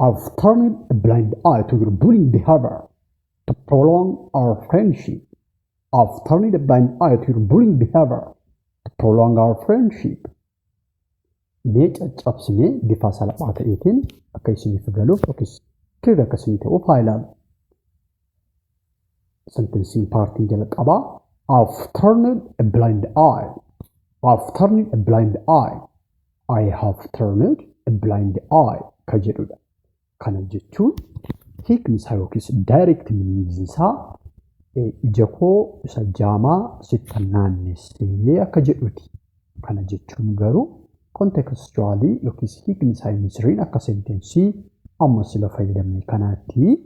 I've turned a blind eye to your bullying behavior to prolong our friendship. I've turned a blind eye to your bullying behavior to prolong our friendship. Mee caccabsinee bifa salphaa ta'eetiin akka isiniif galuuf yookiis kirri akka isinii ta'uuf haa ilaalu. Sentensiin paartiin jalqabaa I've turned a blind eye. I've turned a blind eye. I have turned a blind eye ka jedhudha. Kana jechuun hiikni isaa yookiis direct meaning isaa eh, ija koo isa jaamaa sittan naannessee akka jedhuti. Kana jechuun garuu contextually yookiis hiikni isaa inni sirriin akka sentensii amma sila fayyadamne kanaatti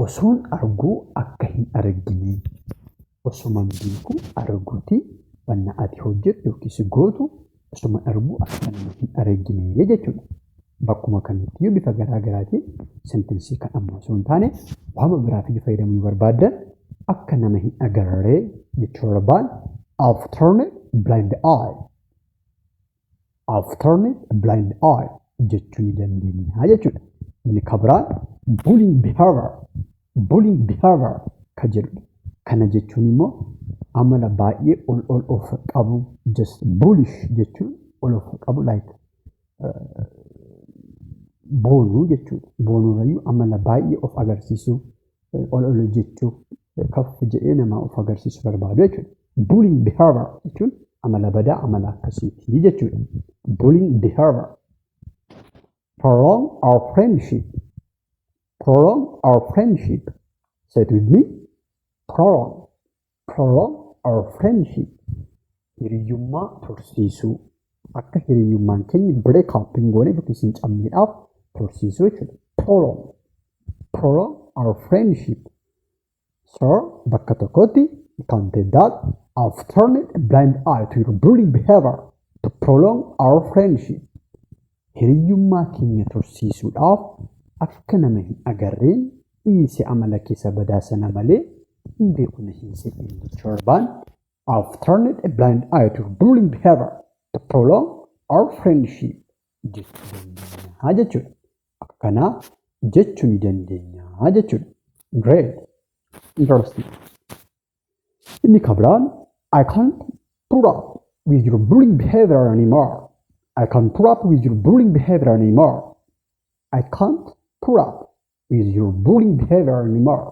Osoon arguu akka hin arginee osoman beeku arguti wanna ati hojjettu yookiis gootu osoman arguu akka nama hin arginee jechuudha. Bakkuma kanattiyyuu bifa garaa garaatiin sentensii kan ammaa osoo hin taane waama biraatiyyuu fayyadamuu yoo barbaaddan akka nama hin agarree jechuu barbaan I've turned a blind eye. I've turned a blind eye jechuu ni dandeenya jechuudha. Inni kan biraan bullying behavior bullying behavior kan jedhudha. Kana jechuun immoo amala baay'ee ol ol of qabu just bullish jechuun ol of qabu like boonuu jechuudha. Boonuurrayyuu amala baay'ee of agarsiisuu ol ol jechuu kafuuf jedhee namaa of agarsiisu barbaadu jechuudha. Bullying behavior jechuun amala badaa amala akkasiiti jechuudha. Bullying behavior. Prolong our friendship. Prolong our friendship. Say it with me. Prolong. Prolong our friendship. Hiriyyummaa tursiisuu. Akka hiriyyummaan keenya break up hin gooneef yookiis hin cabneedhaaf tursiisuu jechuudha. Prolong. Prolong our friendship. So bakka tokkotti you can take that I've turned a blind eye to your bullying behavior to prolong our friendship. Hiriyyummaa keenya tursiisuudhaaf akka nama hin agarreen dhiise amala keessa badaa sana malee hin beeku na hin se'in jechuun barbaan I've turned a blind eye to bullying behavior to prolong our friendship. Jechuu dandeenya jechuudha. Akka kanaa jechuu ni dandeenya jechuudha. Great. Interesting. Inni kan biraan I can't put up with your bullying behavior anymore. I can't put up with your bullying behavior anymore. I can't put up with your bullying behavior anymore.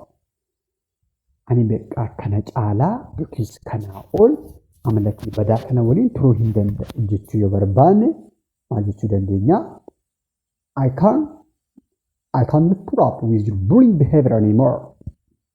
Ani beekaa kana caalaa yookiis kanaa ol amala kee badaa kana waliin turuu hin danda'u jechuu yoo barbaanne maal jechuu dandeenya? I can't I cannot put up with your bullying behavior anymore.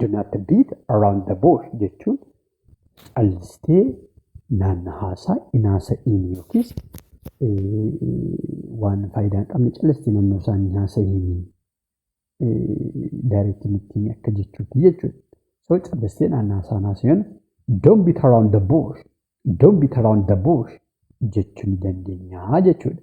Do not beat around the bush jechuun callistee naanna haasaa hin haasa'iin yookiis waan faayidaa hin qabne callistee naannoo isaa hin haasa'iin daayireektii mittiin akka jechuutti jechuudha. So callistee naannaa isaa hin haasa'iin don't beat around the bush don't beat around the bush jechuu ni dandeenya jechuudha.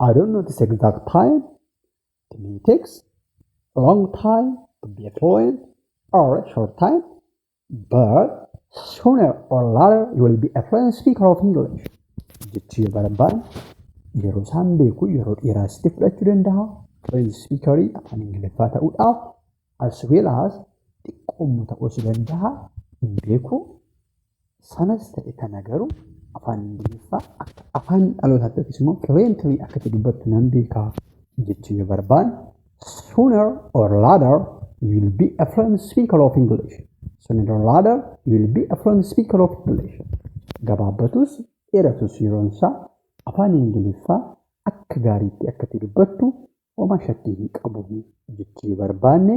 I don't know this exact time to be takes a long time to be a fluent or a short time, but sooner or later you will be a fluent speaker of English. Jechuu yoo barbaadne yeroo isaan beeku yeroo dheeraa sitti fudhachuu danda'a. Fluent speakerii afaan Ingiliffaa ta'uudhaaf as well as xiqqoommu ta'uu si danda'a hin beeku Sanas ta'e kana garuu afaan Ingiliffaa akka afaan dhalootaatti yookiis immoo fluently akka itti dubbattu nan beeka jechuu yoo barbaanne sooner or later you will be a fluent speaker of English. Sooner or later you will be a fluent speaker of English. Gabaabbatus dheeratus yeroon isaa afaan Ingiliffaa akka gaariitti akka itti dubbattu homaa shakkii hin qabu jechuu yoo barbaanne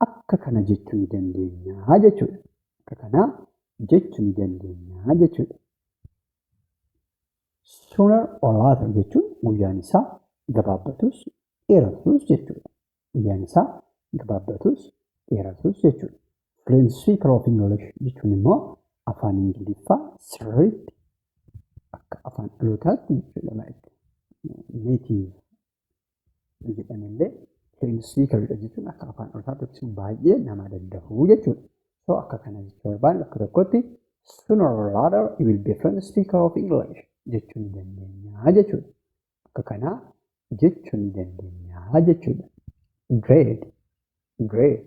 akka kana jechu ni dandeenya jechuudha. Akka kana jechu ni dandeenya jechuudha. Sooner or later jechuun guyyaan isaa gabaabbatus dheeratus jechuudha. Guyyaan isaa gabaabbatus dheeratus jechuudha. Fluency of English jechuun immoo afaan Ingiliffaa sirriitti akka afaan dhalootaatti jechuudha. Like native yoo jedhan illee plain speaker dha jechuun akka afaan olfaatti yookiis baay'ee nama daddahu jechuudha. So akka kana jechuu barbaanne bakka tokkotti sooner or later you will be a plain speaker of English jechuu ni dandeenya jechuudha. Akka kana jechuu ni dandeenya jechuudha. Great. Great.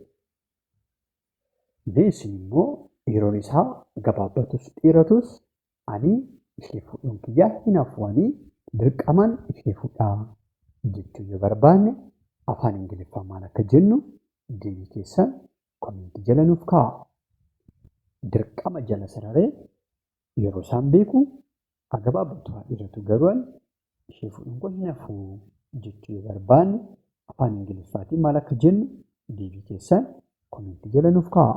This immoo yeroon isaa gabaabbatus dheeratus Ani ishee fuudhuun kiyya hin hafu ani dirqamaan ishee fudha jechuu yoo barbaanne afaan ingiliffaan maal akka jennu deebii keessan komentii jala nuuf kaa'a. Dirqama jala sararee yeroo isaan beeku haa gabaabbatu haa dheeratu garuu ani ishee fuudhuun koo hin hafu jechuu yoo barbaanne afaan ingiliffaatiin maal akka jennu deebii keessan komentii jala nuuf kaa'a.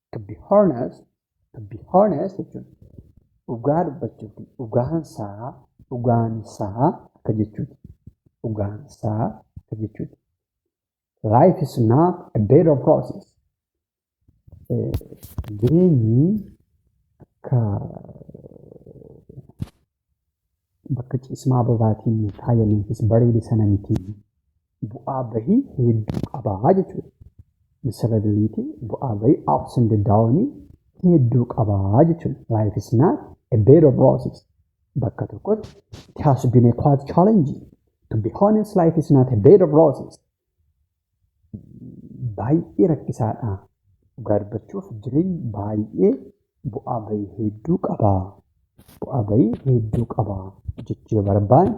to be honest to be honest jechuun dhugaa dubbachuuf dhugaan isaa dhugaan isaa akka jechuuti dhugaan isaa akka jechuuti life is not a bed of roses Eh, jireenyi akka bakka ciismaa bobaatiin faayameefis bareede sana miti. Bu'aa bahii hedduu qabaa jechuudha. Miserability bu'aa bahii ups and down hedduu qabaa jechuudha. Life is not a bed of roses. Bakka tokkotti it has been a quite challenging. To be honest, life is not a bed of roses. baay'ee rakkisaadha. Dhugaa dubbachuuf jireenyi baay'ee bu'aa bahii hedduu qaba. Bu'aa bahii hedduu qaba jechuu yoo barbaanne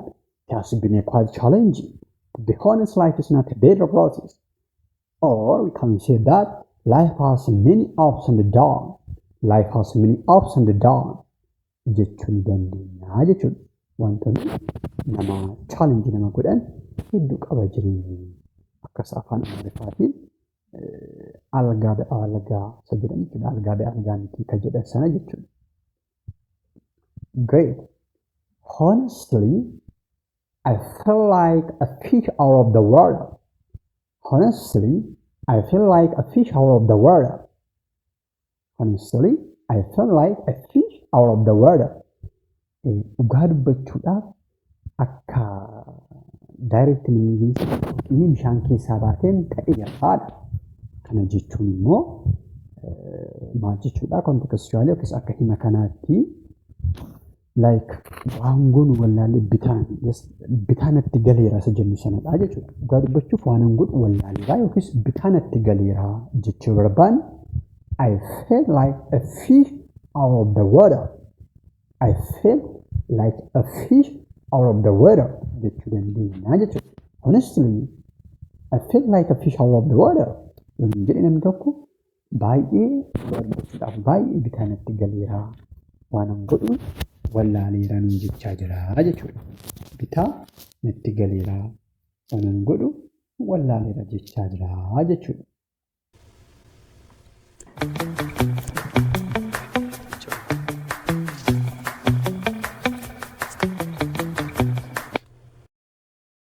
it has been a quite challenging. To be honest life is not a bed of roses. Or we can say that life has many ups and downs. Life has many ups and downs. jechuu ni dandeenya jechuudha. Wantoonni nama challenge nama godhan hedduu qaba jireenyi. Akkas afaan Amaariffaatiin algaa da algaa isa jedhan jechuudha. Algaa da algaa miti ka jedhan sana jechuudha. Great. Honestly, I feel like a fish out of the water. Honestly, I feel like a fish out of the water. Honestly, I feel like a fish out of the water. Eh, Dhugaa dubbachuudhaaf akka direct meaning inni bishaan keessaa baateen ta'e haadha. Kana jechuun immoo eh, maal jechuudha contextually yookiis akka hima kanaatti like waan goonu wallaalle bitaan yes, bitaa natti galeera isa jennu sanadha jechuudha. Dhugaa dubbachuuf waan hin godhu wallaalleera yookiis bitaa natti galeera jechuu barbaanne I feel like a fish out of the water. I feel like a fish out of the water jechuu dandeenya jechuudha. Honestly, I feel like a fish out of the water. Yommuu jedhe namni tokko baay'ee argachuudhaaf baay'ee bitaa natti galeera waanan godhu wallaaleera nuun jechaa jira jechuudha. Bitaa natti galeera waanan godhu wallaaleera jechaa jira jechuudha.